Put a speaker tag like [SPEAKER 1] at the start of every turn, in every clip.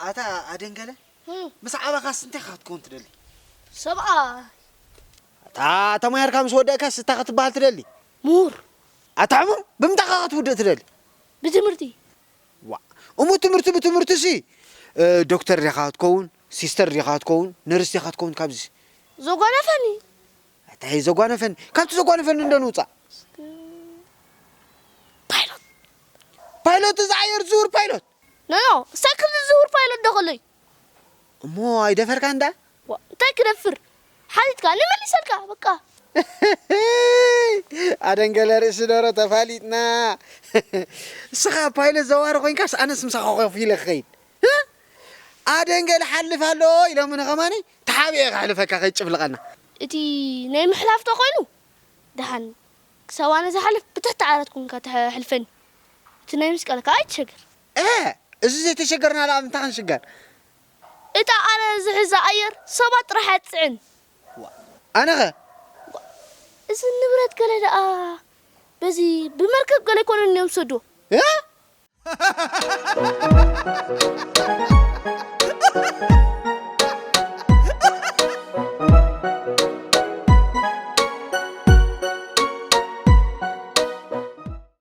[SPEAKER 1] ኣታ ኣደንገለ ምስ ዓበኻስ እንታይ ኢኻ ክትከውን ትደሊ?
[SPEAKER 2] ሰብኣይ።
[SPEAKER 1] ኣታ ተማሂርካ ምስ ወደእካስ እንታይ ክትበሃል ትደሊ? ምሁር።
[SPEAKER 2] ኣታ ሕሙም
[SPEAKER 1] ብምንታይ ኢኻ ክትውድእ ትደሊ? ብትምህርቲ።
[SPEAKER 2] ዋእ
[SPEAKER 1] እሞ ትምህርቲ ብትምህርቲሲ ዶክተር ዲኻ ክትከውን፣ ሲስተር ዲኻ ክትከውን፣ ነርስ ዲኻ ክትከውን ካብዚሲ?
[SPEAKER 2] ዘጓነፈኒ። ኣታ
[SPEAKER 1] ዘጓነፈኒ ካብቲ ዘጓነፈኒ እንዶ ንውጻእ። እስከ ፓይሎት። ፓይሎት እዚ ኣየር ዝዝውር ፓይሎት። ኖኖ እስታይ
[SPEAKER 2] ከምዚ ዝዝውር ፓይሎት ዶ ከሎ'ዩ። እሞ
[SPEAKER 1] ኣይደፈርካን ደኣ? ዋእ እንታይ ክደፍር
[SPEAKER 2] ሓቲትካ እኒ መሊሰልካ በቃ። እህህይ
[SPEAKER 1] ኣደንገለ ርእሲ ደሮ ተፋሊጥና እስኻ ፓይለት ዘዋሪ ኮይንካስ ኣነስ ምሳኻ ኮፍ ኢለ ክኸይድ እህ ኣደንገለ ሓልፍ ኣሎ ኢሎምኒ ከማነይ ተሓቢኤ ከሕልፈካ ከይትጭፍልቐና። እቲ ናይ
[SPEAKER 2] ምሕላፍ ተኮይኑ ደሓን ክሳብ ኣነ ዝሓልፍ ብትሕቲ ዓራት ኮንካ ተሕልፈኒ። እቲ ናይ መስቀል ከኣ ኣይትሸገር። እህ! እዚ
[SPEAKER 1] ዘይተሸገርና ደኣ ብምንታይ ክንሽገር? እታ
[SPEAKER 2] ኣነ ዝሕዛ ኣየር ሰባት ጥራሕ እያ ትጽዕን። ዋእ!
[SPEAKER 1] ኣነኸ? ዋእ!
[SPEAKER 2] እዚ ንብረት ገለ ደኣ በዚ ብመርከብ ገለ ኣይኮነን እንዮም ዝሰድዎ? እህ!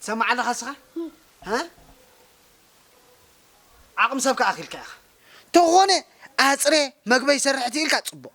[SPEAKER 1] ትሰማዕ ኣለኻ እስኻ እ? ዓቕሚ ሰብ ከዓ ኣኺልካ ኢኻ ተኾነ ኣፅሬ መግበይ ሰርሕቲ ኢልካ ፅቡቕ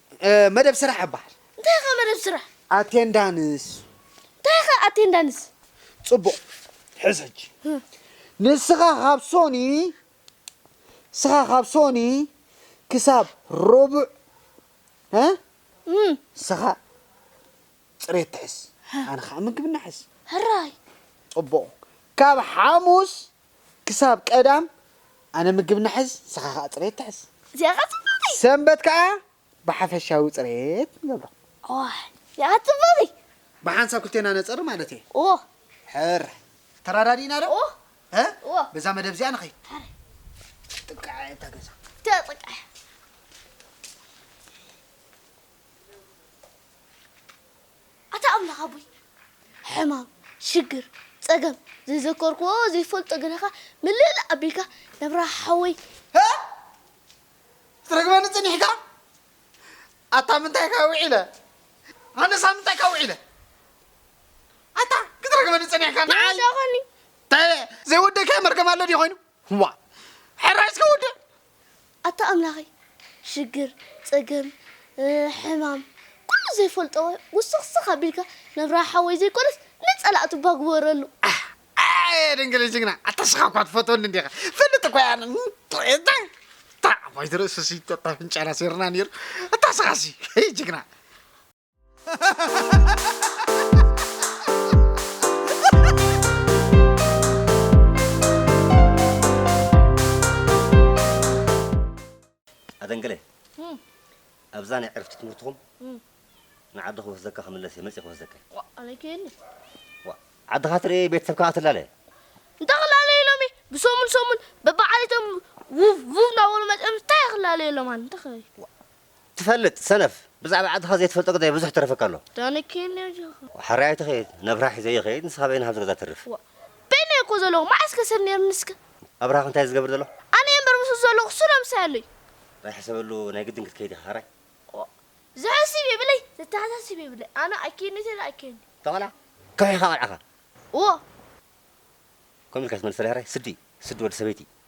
[SPEAKER 1] መደብ ስራሕ እባሃል። እንታይ ኢኻ መደብ ስራሕ?
[SPEAKER 2] ኣቴንዳንስ።
[SPEAKER 1] እንታይ ኢኻ
[SPEAKER 2] ኣቴንዳንስ? ጽቡቕ
[SPEAKER 1] ሕዝ ሕጂ ንስኻ ካብ ሶኒ ንስኻ ካብ ሶኒ ክሳብ ሮቡዕ እ ንስኻ ጽሬት ትሕዝ ኣነ ኸኣ ምግብና ሕዝ። ሕራይ።
[SPEAKER 2] ጽቡቕ
[SPEAKER 1] ካብ ሓሙስ ክሳብ ቀዳም ኣነ ምግብ ንሕዝ ንስኻ ከኣ ጽሬት ትሕዝ። እዚኣ ከኣ ጽብቕቲ።
[SPEAKER 2] ሰንበት ከኣ
[SPEAKER 1] ብሓፈሻዊ ጽሬት ንገብሮ። እዋይ እዚኣ ከኣ ጽብቕቲ። ብሓንሳብ ክልቴና ነጸሪ
[SPEAKER 2] ማለት
[SPEAKER 1] እየ። እዎ። ሕር። ተራዳዲእና ዶ? እዎ። እ? እዎ። በዛ
[SPEAKER 2] መደብ እዚኣ ንኸይድ።
[SPEAKER 1] ሕር። ጥንቃዐ እያ እታ ገዛ። እታ ጥንቃዐ እያ።
[SPEAKER 2] ኣታ ኣምላኽ ኣቦይ ሕማም ሽግር ጸገም ዘይዘከርክዎ ዘይፈልጦ ግነኻ ምልእላእ ኣቢልካ ነብራ ሓወይ። ሀእ
[SPEAKER 1] ክትረግመኒ ጽኒሕካ ኣታ ምንታይካ ውዒለ ኣነስ ኣብ ምንታይካ ውዒለ ኣታ ክትረግመኒ ጸኒሕካ ንዓይ ዳኻኒ
[SPEAKER 2] እንታይ
[SPEAKER 1] ዘይወደካዮ መርገም ኣሎ ድዩ ኮይኑ ዋእ ሕራይ እስከ ወድእ። ኣታ
[SPEAKER 2] ኣምላኸይ ሽግር ጸገም ሕማም ኩሉ ዘይፈልጦ ውስኽስኽ ኣቢልካ ነብራ ሓወይ ዘይኮነስ ንጸላእቱ እባ ግበረሉ። ኣየ
[SPEAKER 1] ድንግለይ ጅግና ኣታ ስኻ እኳ ትፈትወኒ እንዲኻ ፈልጥ እኳ እያ እንታይ ኣባይቲ ርእስሲ ኣፍንጫና ሴርና ነይሩ ኣታ ስኻሲ ጅግና
[SPEAKER 3] ኣደንገለ ኣብዛ ናይ ዕርፍቲ ትምህርትኹም ንዓዲ ክወስደካ ክምለስ እየ መፅእ ክወስደካ ኣለይከየኒ
[SPEAKER 2] ዓድኻ
[SPEAKER 3] ትርኢ ቤተሰብካ ክትላለ እንታይ ክላለዩ
[SPEAKER 2] ኢሎም እየ ብሰሙን ሰሙን በብዓሌቶም ውቭ ውቭ እናበሉ መፅኦም እንታይ ክላለዩ ኢሎም ኣነ እንታይ ክበል ትፈልጥ
[SPEAKER 3] ሰነፍ ብዛዕባ ዓድኻ ዘይትፈልጦ ግዳይ ብዙሕ ይተረፈካ ኣሎ። ዳኒ ኪን ኔው
[SPEAKER 2] ጀኻ። ሓራይ ኣይትኸይድ
[SPEAKER 3] ነብርሃ ሒዘ ይኸይድ ንስኻ በይንኻ ኣብዚ ገዛ ተርፍ። ዋእ በይነይ እየ እኮ
[SPEAKER 2] ዘለኹ መዓስ ከ ሰብ ኔሩኒ እስከ። ኣብርሃ ከ እንታይ እዩ ዝገብር
[SPEAKER 3] ዘሎ። ኣነ እየ እምበር ምስኡ
[SPEAKER 2] ዘለኹ እሱ ዶ ምሳይ ኣሎ እዩ። ናይ ሕሰበሉ
[SPEAKER 3] ናይ ግድን ክትከይድ ኢኻ ሓራይ። ዋእ
[SPEAKER 2] ዘሕስብ የብለይ ዘተሓሳስብ የብለይ ኣነ ኣይከይድን እየ ተለ ኣይከይድን እየ። እታ ቆልዓ
[SPEAKER 3] ከውሒ ኢኻ ቆልዓኻ። ዋእ። ከምኡ ኢልካ ትመልሰለይ ሓራይ ስዲ ስዲ ወዲ ሰበይቲ።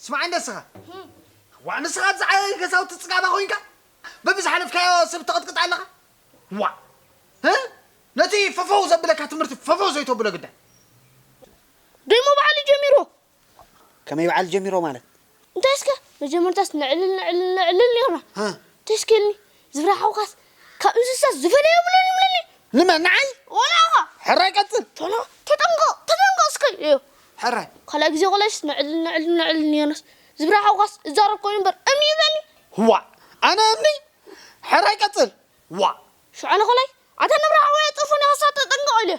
[SPEAKER 1] ስማዕ እንደስኻ ዋዕ ንስኻ ኣብዚ ዓያዪ ገዛውቲ ፅጋባ ኮይንካ በብዝሓለፍካዮ ሰብ ተቐጥቅጥ ኣለኻ ዋዕ እ? ነቲ ፈፈው ዘብለካ ትምህርቲ ፈፈው ዘይተብሎ ግዳ
[SPEAKER 2] ደሞ ባዕሉ ጀሚርዎ ከመይ
[SPEAKER 1] በዓል ጀሚሮ ማለት። እንታይ እስከ
[SPEAKER 2] መጀመርታስ ነዕልል ነዕልል ነዕልል ኔርና ተሽኪልኒ ዝፍራሕኩኻስ ካብ እንስሳ ዝፈለየ የብሉን ይብለኒ ንመን ንዓይ
[SPEAKER 1] ወላ ኢኻ ሕራይ
[SPEAKER 2] ቀጽል
[SPEAKER 1] ቶሎ ተጠንቀቕ
[SPEAKER 2] ተጠንቀቕ እስከ እዮ ሕራይ ካልኣይ
[SPEAKER 1] ግዜ ቆልዐሽስ
[SPEAKER 2] ነዕልል ነዕልል ነዕልል ኔርናስ ዝፍራሕኩኻስ እዛረብ ኮይኑ እምበር እምኒ ይብለኒ ዋእ ኣነ
[SPEAKER 1] እምኒ ሕራይ ቀጽል ዋእ ሽዑ ኣነ
[SPEAKER 2] ካልኣይ ኣታ ንብራሕዋይ ኣጥርፎኒ ኻሳ ተጠንቀቕ ኢለዮ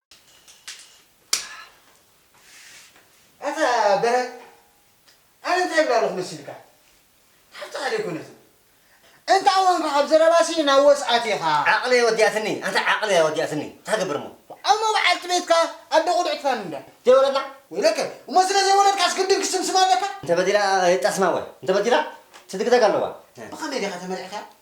[SPEAKER 1] ኣታ በራድ ኣነ እንታይ እብል ኣለኹ መሲልካ ሓፍትኻ ደይኮነትን እንተ ኣወንካ ካብ ዘረባሲ ናብ ወስኣት ኢኻ። ዓቕሊ እያ ወዲኣትኒ
[SPEAKER 3] ኣታ ዓቕሊ እያ ወዲኣትኒ እንታይ ክገብር እሞ። እሞ በዓልቲ
[SPEAKER 1] ቤትካ ኣደ ቁልዕትካ ንምንታይ ዘይወለድና? ወይለከ
[SPEAKER 3] እሞ ስለ
[SPEAKER 1] ዘይወለድካስ ግድን ክስምስማ ኣለካ? እንተበዲላ
[SPEAKER 3] የጣስማ እወ እንተበዲላ ትድግደግ ኣለዋ። ብኸመይ ዲኻ ተመሪዕካ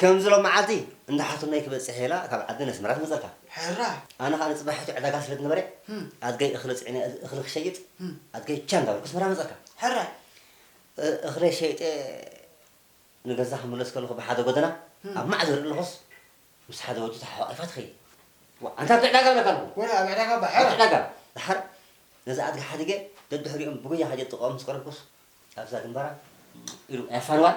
[SPEAKER 3] ከምዚ ሎሚ መዓልቲ እንዳ ሓትኖይ ክበጽሕ ኢላ ካብ ዓዲ ነስመራ ትመጸካ። ሕራይ! ኣነ
[SPEAKER 1] ከኣ ንጽባሕ ሕጂ
[SPEAKER 3] ዕዳጋ ስለ ዝነበረ ኣድገይ እኽሊ ጽዒነ እኽሊ ክሸይጥ ኣድገይ ቻ እንዳበልኩ ኣስመራ መጸካ። ሕራይ!
[SPEAKER 1] እኽለይ
[SPEAKER 3] ሸይጠ ንገዛ ክምለስ ከለኹ ብሓደ ጎደና ኣብ ማዕዶ ይርኢ ኣለኹስ ምስ ሓደ ወዲ ተሓቛቒፋ ትኸይድ። ዋእ ኣንታ ኣብቲ ዕዳጋ እብለካ ኣለኹ። ወረ ኣብ ዕዳጋ እባ ሕራይ!
[SPEAKER 1] ኣብቲ ዕዳጋ!
[SPEAKER 3] ደሓር ነዛ ኣድጊ ሓዲገ ደድሕሪኦም ብጉያ ከይደ ጥቐኦም ምስ ቀረብኩስ ኣብዛ ግንባራ ኢሉ ኣይ ኣፋንዋን